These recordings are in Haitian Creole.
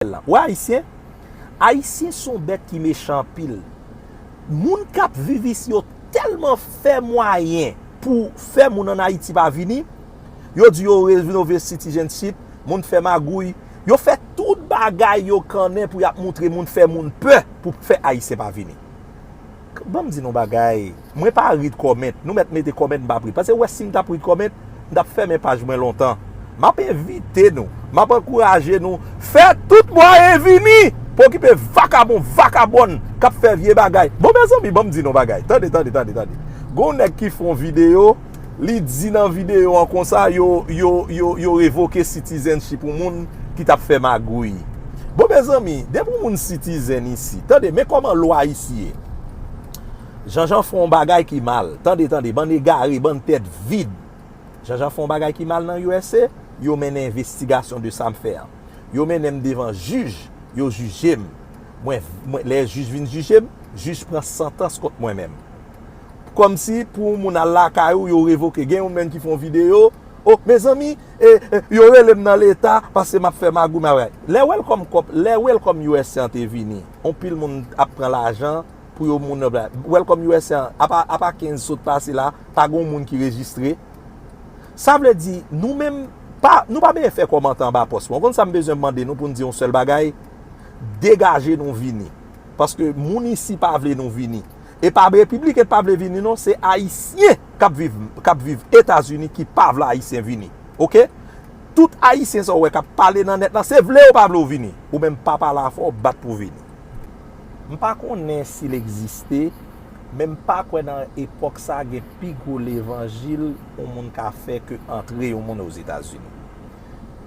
kriminèl la. Ou wè ayisyen? Ayisyen son bèt ki mechan anpil. Moun kap viv isi yo tèlman fè mwayen pou fè moun an ayiti pa vini. Yo di yo renove citizenship, moun fè magouy. Yo fè tout bagay yo kannen pou yap moutre moun fè moun pè pou fè ayisyen pa vini. Banm di nou bagay. Mwen pa read comment, nou mèt mete comment m pap read pase wè sim tap read comment m tap fèmen paj mwen lontan map envite nou map ankouraje nou fè tout mwayen vini pou okipe vakabon vakabòn kap fè vye bagay bon mezanmi banm di nou bagay tande tande tande tande gon nèg ki fon video li di nan video an konsa yo yo yo yo revoke citizenship yon moun ki tap fè magouy bon mezanmi depi yon moun citizen isi tande men kòman lwa isi ye. Janjan fè yon bagay ki mal. Tande tande, bann egare, bann tèt vid. Janjan fè yon bagay ki mal nan usa, yo mennen envestigasyon de sa m fè an. Yo mennen m devan jij, yo jije m. Mwen, mwen, lè jij vin jije m, jij pran santans kont mwen menm. Kòmsi pou yon moun al lakay ou, yo revoke. Gen yon menn ki fè yon videyo, O, mezanmi, e, e, yo rele m nan leta paske m ap fè magouy, m ap. Lè Welcome Corp, lè Welcome usa an te vini, anpil moun ap pran lajan. pou yo moun nan bay. Welcome usa apa apa 15 sot pase la pa gon moun ki rejistre. Sa vle di nou menm pa nou pa benyen fè kòmantè anba pòs mwen. Ou konn sa m bezwen mande nou pou n di yon sèl bagay? Degaje nou vini. Paske moun isi pa vle nou vini. E pa repibliken k pa vle vini non se ayisyen k ap viv k ap viv etazini ki pa vle ayisyen vini. Ok. Tout ayisyen sa ou wè k ap pale nan nèt la se vle ou pa vle ou vini. Ou menm pa pale afè ou bat pou vini. M pa konnen si l egziste, men m pa kwè nan epòk sa gen pi gwo levanjil yon moun ka fè ke antre yon moun Ozetazini.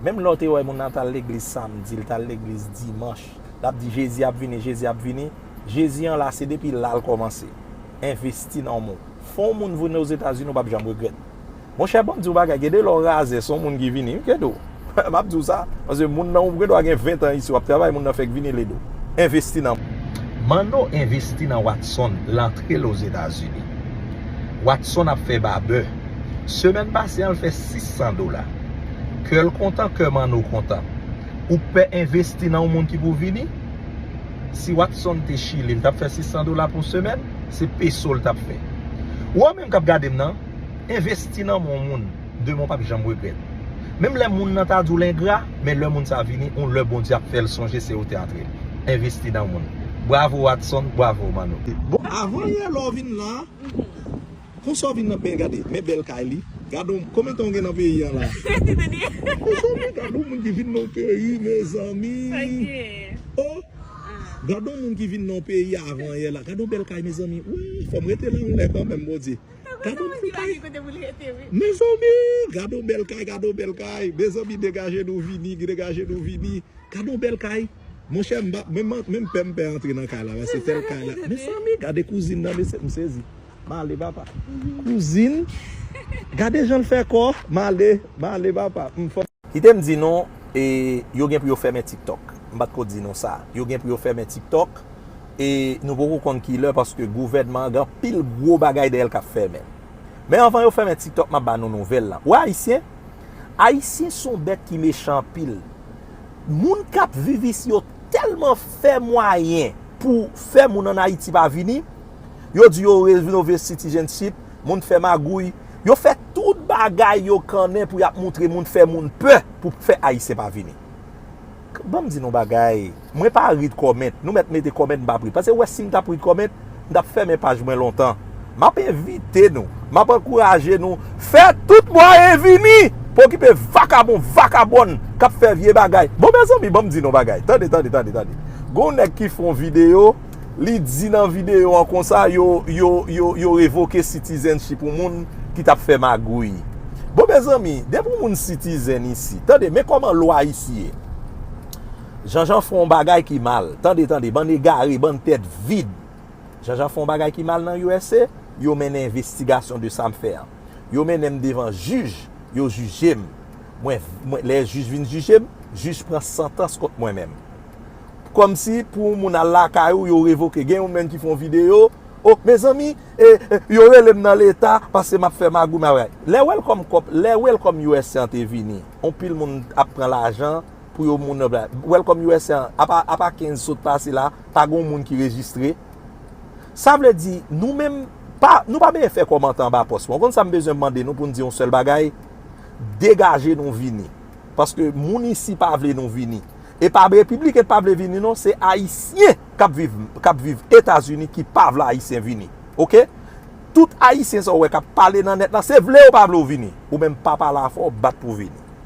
Menm lè w te wè moun nan t al legliz samdi, l t al legliz dimanch, l ap di Jezi ap vini, Jezi ap vini, Jezi an la se depi la l kòmanse envesti nan w. Fè yon moun vini Ozetazini ou p ap janm regrèt. Monchè banm diw bagay gen de lè w razè son moun ki vini wi Kedo map diw sa paske moun nan ou gen dwa gen 20 ans isi wap travay moun nan fèk vini ledo envesti nan Manno envesti nan Watson lantrel ozetazini Watson ap fè babè semèn pase an l fè 600 dola kèl kontan kè Manno kontan ou k pè envesti nan yon moun ki pou vini si Watson te chili l tap fè 600 dola pou semèn se peso l tap fè ou an menm kap gadem nan. Envesti nan men yon moun, demen w pap janm regrèt. Menm lè moun nan ta di w l engra, men lè moun sa vini, yon lè Bondye ap fè l sonje se ou te antre. Envesti nan moun. Bravo Watson, bravo Manno. Bon avan yè lè w vin la Konsa w vin nan bèl gade Men bèl kay li Gadon konbyen tan w gen nan peyi an la Mezanmi gade yon moun ki vin nan yon peyi mezanmi Oh Gadon moun ki vin nan yon peyi avan yè la Gadon bèl kay mezanmi Wouy fò m rete la yon lè kanmèm Bondye. Gadon ti kay. Mezanmi gadon bèl kay gadon bèl kay mezanmi degaje nou vini degaje nou vini gadon bèl kay monchè menm pè m pè antre nan kay la paske tèl kay la mezanmi gade kouzin nan mesye m sezi m ale papa kouzin gade jan l fè kò m ale m ale papa m fòk Kite m di nou, e, yo gen pou yo fèmen TikTok. M pa t ko di nou sa. Yo gen pou yo fèmen TikTok, e, nou poko konn ki lè paske gouvènman an gen anpil gwo bagay dèyè l k ap fèmen. Men anvan yo fèmen TikTok, m ap ba nou nouvèl lan. Wè Ayisyen? Ayisyen s on bèt ki mechan anpil. Moun k ap viv isi yo tèlman fè mwayen pou fè moun ann Ayiti pa vini. Yo di yo renove Citizenship. moun fè magouy, yo fè tout bagay yo kannen pou yap moutre moun fè moun pè pou fè ayisyen pa vini. Banm di nou bagay, mwen pa read comment, nou mèt mete comment m pap read, pase wè sim tap read comment m tap fèmen paj mwen lontan. Map envite nou, map ankouraje nou fè tout mwayen vini pou okipe vakabon, vakabòn kap fè vye bagay. Bon mezanmi banm di nou bagay, tande, tande, tande, tande, gonw nèg ki fon video. Li di nan videyo an konsa yo revoke citizenship yon moun ki tap fè magouy. Bon mezanmi, depi yon moun citizen isi, tande men koman lwa isi ye. Janjan fè yon bagay ki mal, tande tande, bann egare, bann tèt vid. Janjan fè yon bagay ki mal nan usa, yo mennen envestigasyon de sam fè an. Yo mennenm devan jij, yo jijem. Mwen, lè jij vin jijem, jij pran santans kont mwen menm. kòmsi pou yon moun al lakay ou yo revoke gen yon menn ki fon video oh mezanmi yo relem nan leta paske map fè magouy map bagay lè welcome kòp lè welcome usa an te vini anpil moun ap pran lajan pou yo moun nan bay welcome usa an apa apa 15 sot pase la pa gon moun ki rejistre sa vle di nou menm pa nou pa bezwen fè kòmantè anba pòs mwen ou konn sam bezwen mande nou poun di yon sèl bagay degaje nou vini paske moun isi pa vle nou vini. Epa repiblik et pa vle vini non se ayisyen kap viv kap viv etazini ki pa vle ayisyen vini ok tout ayisyen sa ou wè kap pale nan nèt la se vle yo pa vle ou vini ou menm pa pale afò bat pou vini.